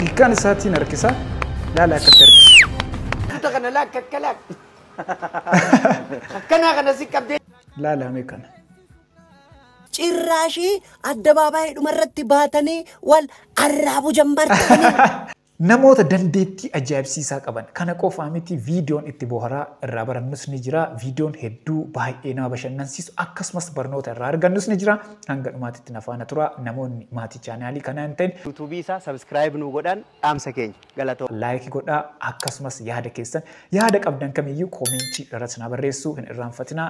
Ilkaan isaatiin harkisa. Laala akkatti harkisa. Kuta kana laak akka laak. Akkanaa kana si qabdee. Laala mee kana. Cirraashii addabaabaayii dhumarratti baatanii wal arraabu jammartanii. Namoota dandeettii ajaa'ibsiisaa qaban. Kana qofaa miti viidiyoon itti booharaa irraa barannus ni jira. Viidiyoon hedduu baay'ee nama bashannansiisu akkasumas barnoota irraa argannus ni jira. Hanga dhumaatitti na faana turaa. Namoonni maatii chaanaalii kanaa hin ta'in. YouTube isaa subscribe nuu godhaan dhaamsa keenya. Galatooma. Like godhaa akkasumas yaada keessan yaada qabdan kamiyyuu koomentii irratti naa barreessuu hin irraanfatinaa.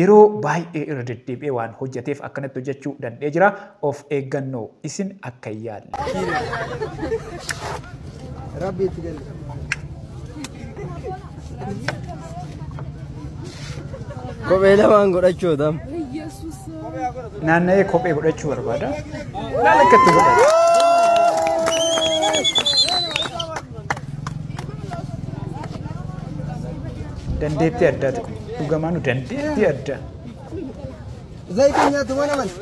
Yeroo baay'ee irra deddeebi'ee waan hojjateef akkanatti hojjachuu dand'ee jira. Of eeggannoo isin akka hin yaalle. Rabbi itti galle. Kophee lamaan godhachuu tam. Naanna'ee kophee godhachuu barbaada. Laal akka itti godhatu. Dandeettii addaati kun. Dhugamaa nu dandeetti adda. Zayitiin nyaatu mana mana.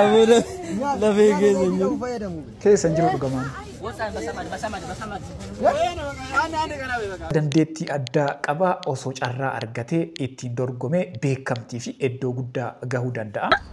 Abuda lafee keessa hin jiru. Keessa hin jiru dhugamaan. Dandeettii addaa qabaa osoo carraa argatee ittiin dorgomee beekamtii fi iddoo guddaa gahuu danda'a.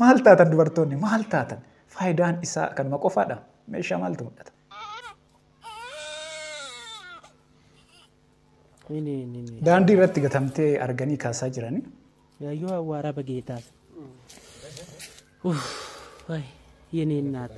Maal taatan dubartoonni maal taatan? Faayidaan isaa kanuma qofaadha. Meeshaa maaltu mul'ata? Ini ini ini. Daandii irratti gatamtee arganii kaasaa jiranii. Yayyoo awwaara bageetaas. Uff, wayi, yene naat.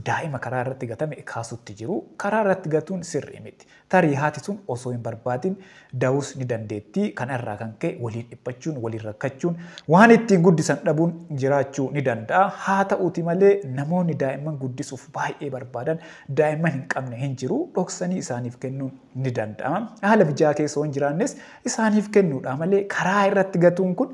Daa'ima karaa irratti gatame kaasuutti jiru. Karaa irratti gatuun sirrii miti. Tarii haati sun osoo hin barbaadin da'uus ni dandeetti. Kana irraa kan ka'e waliin dhiphachuun, waliin rakkachuun, waan ittiin guddisan dhabuun jiraachuu ni danda'a. Haata'uuti malee namoonni daa'imman guddisuuf baay'ee barbaadan daa'imman hin qabne hin jiru. Dhoksanii isaaniif kennuun ni danda'ama. Haala mijaa'aa keessa yoo hin jiraannes isaaniif kennuudhaa malee karaa irratti gatuun kun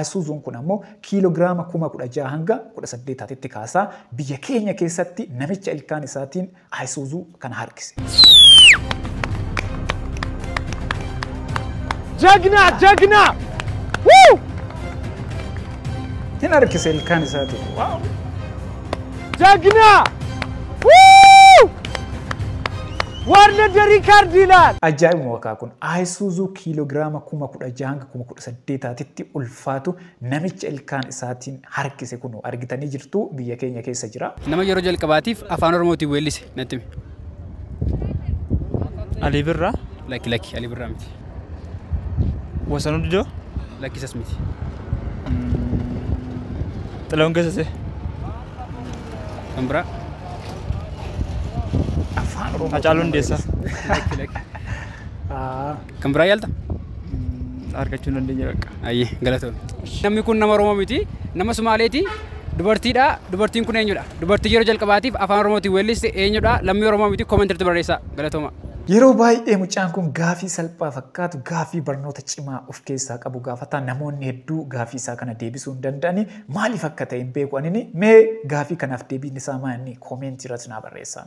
Isuzuun kun ammoo kiiloogiraama kuma 16 hanga 18 taatetti kaasaa biyya keenya keessatti namicha ilkaan isaatiin Isuzu kana harkise. Jagna! Jagna! Woo! Hin harkise ilkaan isaatiin. Waaw! Jagna! Woo! Warna Derikaardi ilaal! Ajaa'ibuma wakaa kun Isuzu kiiloogiraama kuma 16 hanga kuma 18 saddeetaatitti ulfaatu namicha ilkaan isaatiin harkise kunoo argitanii jirtu biyya keenya keessa jira. Nama yeroo jalqabaatiif afaan oromootiin weellise natti himi. Alii Birraa. Lakki lakki Alii Birraa miti. Wasanuu Didoo. Lakki isas miti. Xilahuun Gassasee. Kan biraa. Afaan Oromoo. Hacaaluu Hundeessaa. Lakki lakki. Ah. Kan biraa yaalta? argachuu dandeenya bakka. Ayyee galatoon. Namni kun nama Oromoo miti. Nama Sumaaleeti. Dubartiidha. Dubartiin kun eenyudha? Dubartii yeroo jalqabaatiif afaan Oromootiin weelliste eenyudha? Lammii Oromoo miti. Comment irratti barreessaa. Galatooma. Yeroo baay'ee mucaan kun gaafii salphaa fakkaatu gaafii barnoota cimaa of keessaa qabu gaafata. Namoonni hedduu gaafii isaa kana deebisuu hin danda'ani. Maaliif akka ta'e hin beeku anini. Mee gaafii kanaaf deebiin isaa maanni? Comment irratti naa barreessaa.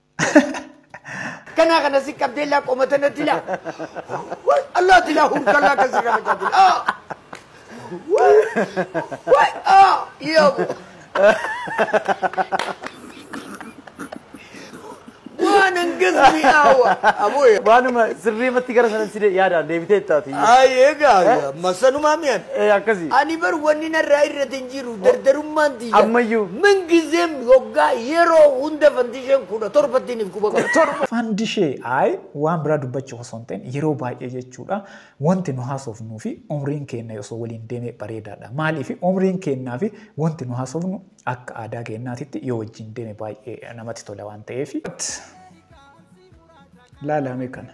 Kana kana si qabdee laa qomata natti laa. Wai Allah ti laa hurka laa kan sirra machaa ti laa. Wai wai ah iya bu. Waan hangas mi'aawa. Aboo yaa. Waanuma sirriimatti gara sanan si de- yaadaan deebitee ittaati. Ay egaa masanumaa mi'an. Eh, Akkasii. Ani bar wanni narraa irratti hin jiru dardarummaan Ammayyuu, mingizeem, yoggaa, yeroo, hunda fandisheen 17 tti niif guba qaba. Fandishee I waan biraa dubbachuuf osoo hin ta'in yeroo baay'ee jechuudha wanti nu haasofnuu fi umriin keenna osoo waliin deeme bareedaadha. Maaliif umriin keennaa fi wanti nu haasofnu akka aadaa keennaatitti yoo wajjin deeme baay'ee namatti tola waan ta'eef. But laalaa mee kana.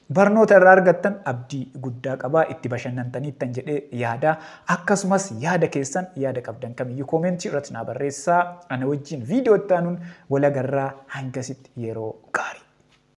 Barnoota irraa argattan abdii guddaa qaba. Itti bashannantaniittan jedhee yaada. Akkasumas yaada keessan yaada qabdan kamiyyuu koomentii irratti naa barreessaa. Ana wajjin viidiyoo itti aanuun wal agarraa hangasitti yeroo gaarii.